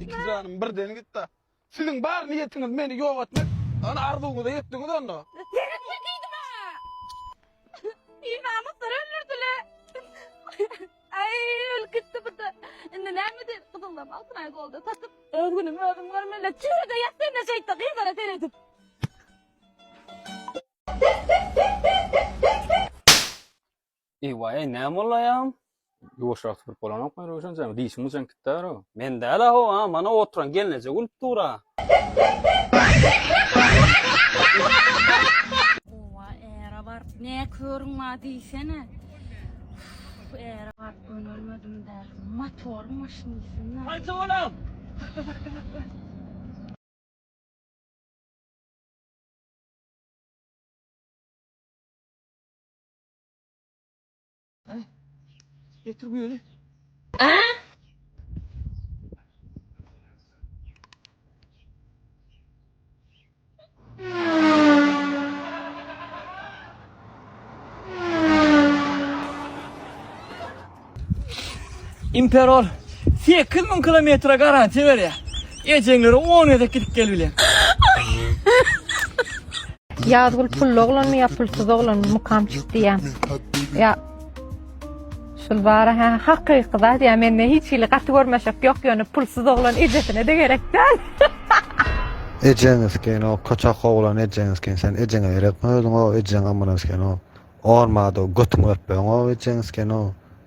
Iki janym birden gitdi. Siziň bar niýetiňiz meni ýok etmek. Ana arzuwyňyza ýetdiňiz onda. Seretme diýdim-ä. Binamyslar öldürdiler. Aý, ölüp gitdi bu-da. Indi näme edeli, gyzyldam altynaý golda satyp, öz günümi özüm görmelä. Çüýrüde ýat sen-de şeýtde, gyzlara seredip. Eý-waý, näme boldy aýagym? Ýuwaşrak süpürip bolanokmy, Röwşenjan? Dişiň uçan gitdar-ow. Men däl-a, ho-a, mana oturan gelneje gülüp dur-a. Owa ära baryp ne körüň bar diýsene. Uf, Ära baryp gönelmedim däl. Motor maşynysyna. Haýsy bolam? Getir bu ýöne. Imperol 8000 kilometre garantiya berýär. Ejeňlere 10 gezek gidip gel bilen. Ýazgül pully oglanmy ýa pulsuz oglanmy mukam çykdy ýa. Ýa Şul bara ha hakyky zat ýa mende hiç hili gaty görmeşek ýok ýöne pulsuz oglan ejesine de gerek däl. Ejeňiz ken o koçak oglan ejeňiz ken sen ejeňe gerekmi özüň o ejeň amynas ken o. Ormada götüň örtmeň o ejeňiz ken o.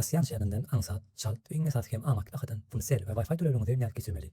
Rossiýanyň şägerinden aňsat, çalt, iň esasy hem amatly bahadan pul, sel we Wi-Fi töleginiňizi nädip geçirmeli?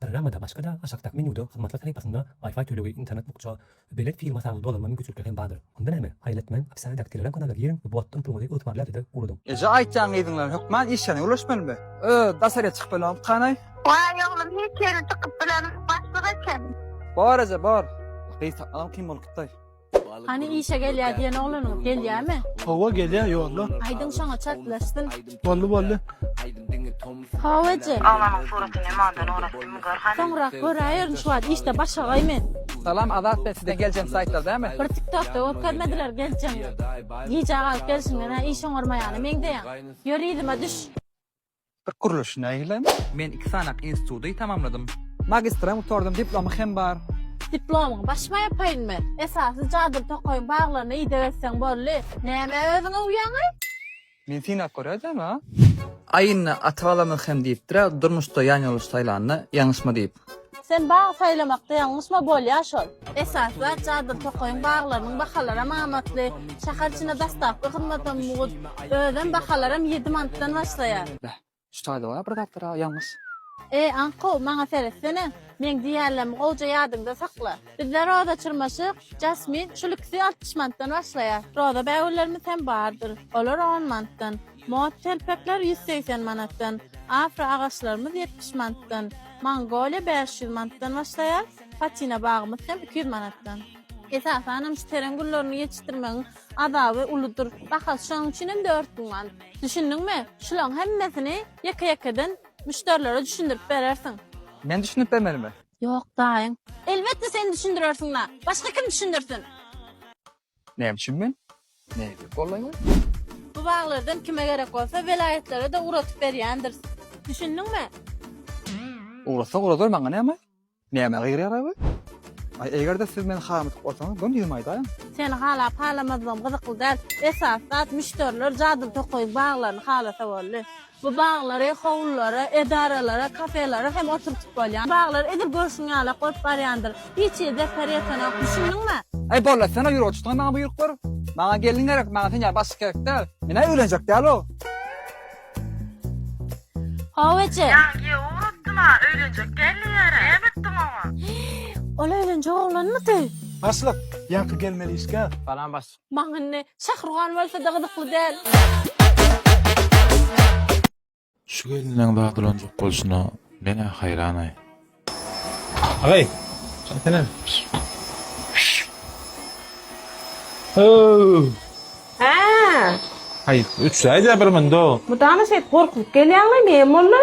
Programmada başga-da aşakdaky menýuda hyzmatlar sahypasynda Wi-Fi tölegi, internet bukja, belet firma sany dolanma mümkinçilikleri hem bardyr. Onda näme? Haýyl etmäň, opissiýadaky Telegram kanala giriň we bu atdan puluňyzy ygtybarly adrese ugradyň. Eje aýtýan gyzyňdan hökman iş ýerine ulaşmalymy? Ööö daşaryýa çykyp bilemok okanaý. Waý oglum hiç ýere çykyp bilemok başlyk eken. Bor eje bor. Gyz tapmagam kyn bolup gitdaý. Hany işe gelýä diýen oglanyň gelýämi? Hawa gelýä ýolda. Aýdym şoňa çaklaşsyn. Boldy boldy. Hawa eje. Aglanyň suratyny mandan oraz kim gör hany. Soňrak göräýerin şu wagt işde başagaý men. Salam Azat ben sizden geljeň saýtlar dämi. Bir tiktokda görkezmediler geljeň. Gijä galyp gelşiňden-ä iş oňarmaýana meňzeýäň. Ýör yzyma düş. Irk gurluş nähilem? Men iki sanak institudy tamamladym. Magistra hem gutardym, diplomy hem bar. Diplomyň baş maýapaýynymy? Esasy jadyly tokaýyň baglaryna ideg etseň boldy. Nämä özüňe uýýaňaý? Men synap görýädem-a. Aýynda ata-balamyz hem diýipdir-ä durmuşda ýanýoldaş saýlanda ýalňyşma diýip. Sen bag saýlamakda ýalňyşma bolýa şol. Esaslar cadyr tokaýyň baglarynyň bahalaram amatly. Şäher içinde daslapky hyzmatam mugt. Özem bahalaram ýedi manatdan başlaýar. Beh, şu taýda-a bir zatlar-a ýalňyş. Eý, aňkow, maňa seretsene. Meň diýýänlerimi gowja ýadyňda sakla. Bizde roza çyrmaşyk, jasmin, şul ikisi altmyş manatdan başlaýar. Roza bägüllerimiz hem bardyr. Olar on manatdan. Mot telpekler ýüz segsen manatdan, afro agaçlarymyz ýetmiş manatdan, mongoliýa bäş ýüz manatdan başlaýar, patina bagymyz hem iki ýüz manatdan. Esasan hem şu teren güllerini ýetişdirmegiň azaby uludyr. Bahasy şonuň üçin hem dört müň manat. Düşündiňmi? Şularyň hemmesini ýeke-ýekeden müşderilere düşündirip berersiň. Men düşündirip bermelimi? Ýok, daýyň. Elbetde sen düşündirersiň-la! Başga kim düşündirsin? Näme üçin men? Nädip gollaýaý? Bu baglardan kime gerek bolsa welaýatlara-da ugratyp berýändiris. Düşündiňmi? Ugratsa ugradar, maňa näme? Nämä gygyrýaraý bu? Aý, eger-de siz meni halamatdyk bolsaňyz, göni ýüzümi aýdaýyň. Seni halap-halamazlygym gyzykly däl. Esasy zat, müşderiler jadyly tokaýyň baglaryny halasa boldy. Bu baglary howlulara, edaralara, kafelere hem oturtyp bolýar. Baglary edil görşüň ýalak bolup barýandyr. Hiç hili zepper ýetenok, düşündiňmi? Aý bolla, sen-ä ýüre tutgyň maňa buýruk ber. Maňa gelin gerek, maňa sen ýaly başlyk gerek däl. Men-ä öýlenjek däl-ow. Hawa eje. Ýaňy giýew ugratdym-a, öýlenjek däl diýýär-ä. Näme etdiň oňa? Ol öýlenjek oglanmydy? Başlyk, ýaňky gelmeli işgär. Salam başlyk. Maňa indi şahruhan bolsada gyzykly däl. Şu gelniň zadylanjak bolşuna menä haýranaý. Agaý, çaýsene. Hoow! Hää. Haýyt, üçräýdä bir munda. Mydama şeýdip gorkuzyp gelýäňmi, näme boldy?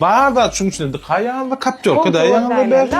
Bar zat şuň içinde dyka ýazdy kaptýorka da ýaňyda berdi.